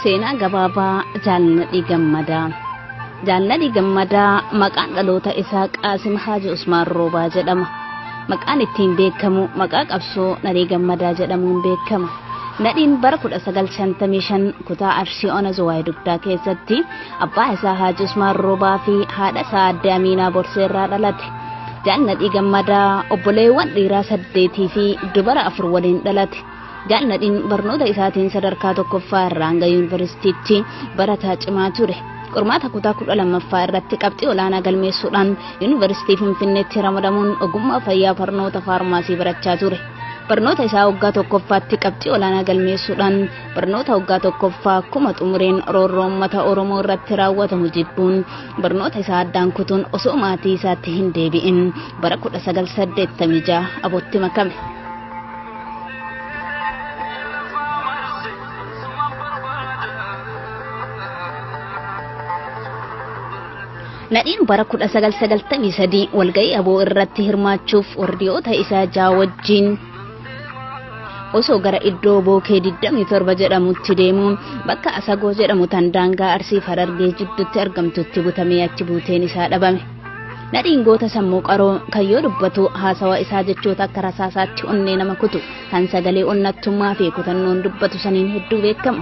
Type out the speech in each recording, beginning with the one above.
seenaa gabaabaa jaalnadhii gammadaa jaalnadhii gammadaa maqaan dhaloota isaa qaasim haaji usmaan roobaa jedhama maqaan ittiin beekamu maqaa qabsoo nadhii gammadaa jedhamuun beekama Nadhiin bara 1955 kutaa Arsii Ona Zuwaay Dugdaa keessatti abbaa isaa Haaji Usmaan Roobaa fi haadha isaa Aadde Amiinaa Borsee irraa dhalate. Jaal Nadhii Gammadaa obboleewwan dhiiraa saddeetii fi dubara afur waliin dhalate. Jaal Nadhiin barnoota isaatiin sadarkaa tokkoffaa irraa hanga yuunivarsiitiitti barataa cimaa ture. Qormaata kutaa kudha lammaffaa irratti qabxii olaanaa galmeessuudhaan yuunivarsiitii Finfinneetti ramadamuun ogummaa fayyaa barnoota faarmaasii barachaa ture. Barnoota isaa waggaa tokkoffaatti qabxii olaanaa galmeessuudhaan barnoota waggaa tokkoffaa akkuma xumureen roorroo uummata Oromoo irratti raawwatamu jibbuun barnoota isaa addaan kutuun osoo maatii isaatti hin deebi'in bara 1986 abootti makame. Nadhiin bara 1993 walga'ii aboo irratti hirmaachuuf wardiyoota isaa ja'a wajjin osoo gara iddoo bookee 27 jedhamutti deemuun bakka asagoo jedhamu tan daangaa arsii harargee jidduutti argamtutti butamee achi buuteen isaa dhabame. Nadhiin goota sammuu qaroo kan yoo dubbatu haasawa isaa jechoota akka rasaasaatti onnee nama kutu kan sagalee onnattummaa fi kutannoon dubbatu saniin hedduu beekama.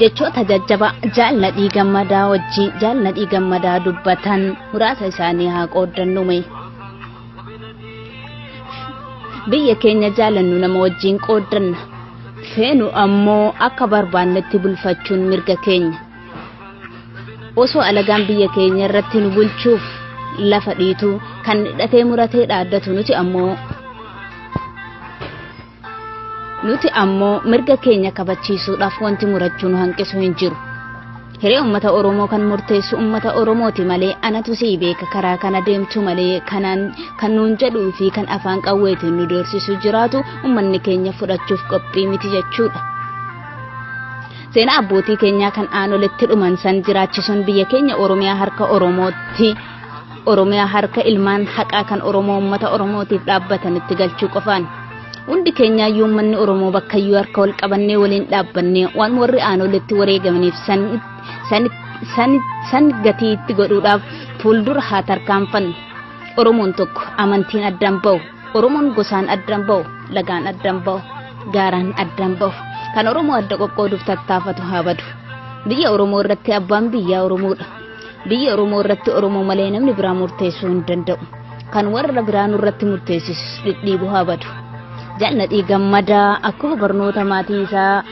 Jechoota jajjabaa jaal Nadhii Gammadaa wajjin jaal Nadhii Gammadaa dubbatan muraasa isaanii haa qooddannume. Biyya keenya jaalannu nama wajjin qooddanna. Feenu ammoo akka barbaannetti bulfachuun mirga keenya. osoo alagaan biyya keenya irratti nu bulchuuf lafa dhiitu kan hidhatee muratee dhaaddatu nuti ammoo nuti ammoo mirga keenya kabachiisuudhaaf wanti murachuu nu hanqisu hin jiru. Hiree uummata Oromoo kan murteessu uummata Oromooti malee anatu sii beeka karaa kana deemtu malee kanaan kan nuun jedhuu fi kan afaan qawweetiin nu doorsisu jiraatu uummanni keenya fudhachuuf qophii miti jechuudha. Seenaa abbootii keenyaa kan aanoletti dhuman san jiraachisuun biyya keenya Oromiyaa harka Oromootti Oromiyaa harka ilmaan haqaa kan Oromoo uummata Oromootiif dhaabbatanitti galchuu qofaan. Hundi keenyaa iyyuu uummanni Oromoo bakka iyyuu harka wal qabannee waliin dhaabbannee waan warri aanoletti wareegamaniif san, san, san, san gatii itti godhuudhaaf fuuldura haa tarkaanfannu. Oromoon tokko amantiin addaan ba'u. Oromoon gosaan addan ba'u, lagaan addan ba'u, gaaraan addan ba'u. Kan Oromoo adda qoqqooduuf tattaafatu haa badu. Biyya Oromoo irratti abbaan biyyaa Oromoodha. Biyya Oromoo irratti Oromoo malee namni biraa murteessuu hin danda'u. Kan warra biraa nurratti murteessisus dhidhiibu haa badu. Jannadhii gammadaa akkuma barnoota maatii isaa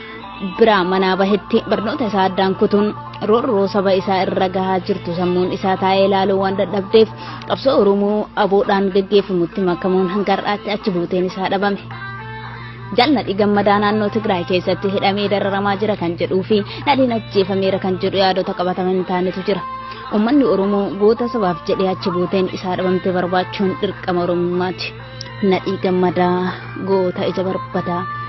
biraa manaa bahetti barnoota isaa addaan kutuun roorroo saba isaa irra gahaa jirtu sammuun isaa taa'ee ilaaluu waan dadhabdeef qabsoo oromoo aboodhaan gaggeeffamutti makamuun hanga har'aatti achi buuteen isaa dhabame. Jaalladhi gammadaa naannoo Tigraay keessatti hidhamee dararamaa jira kan jedhuu fi nadhiin ajjeefameera kan jedhu yaadota qabataman hin taanetu jira. Uummanni Oromoo goota sabaaf jedhee achi buuteen isaa dhabamte barbaachuun dirqama Oromummaati. Nadhii gammadaa goota ija barbadaa.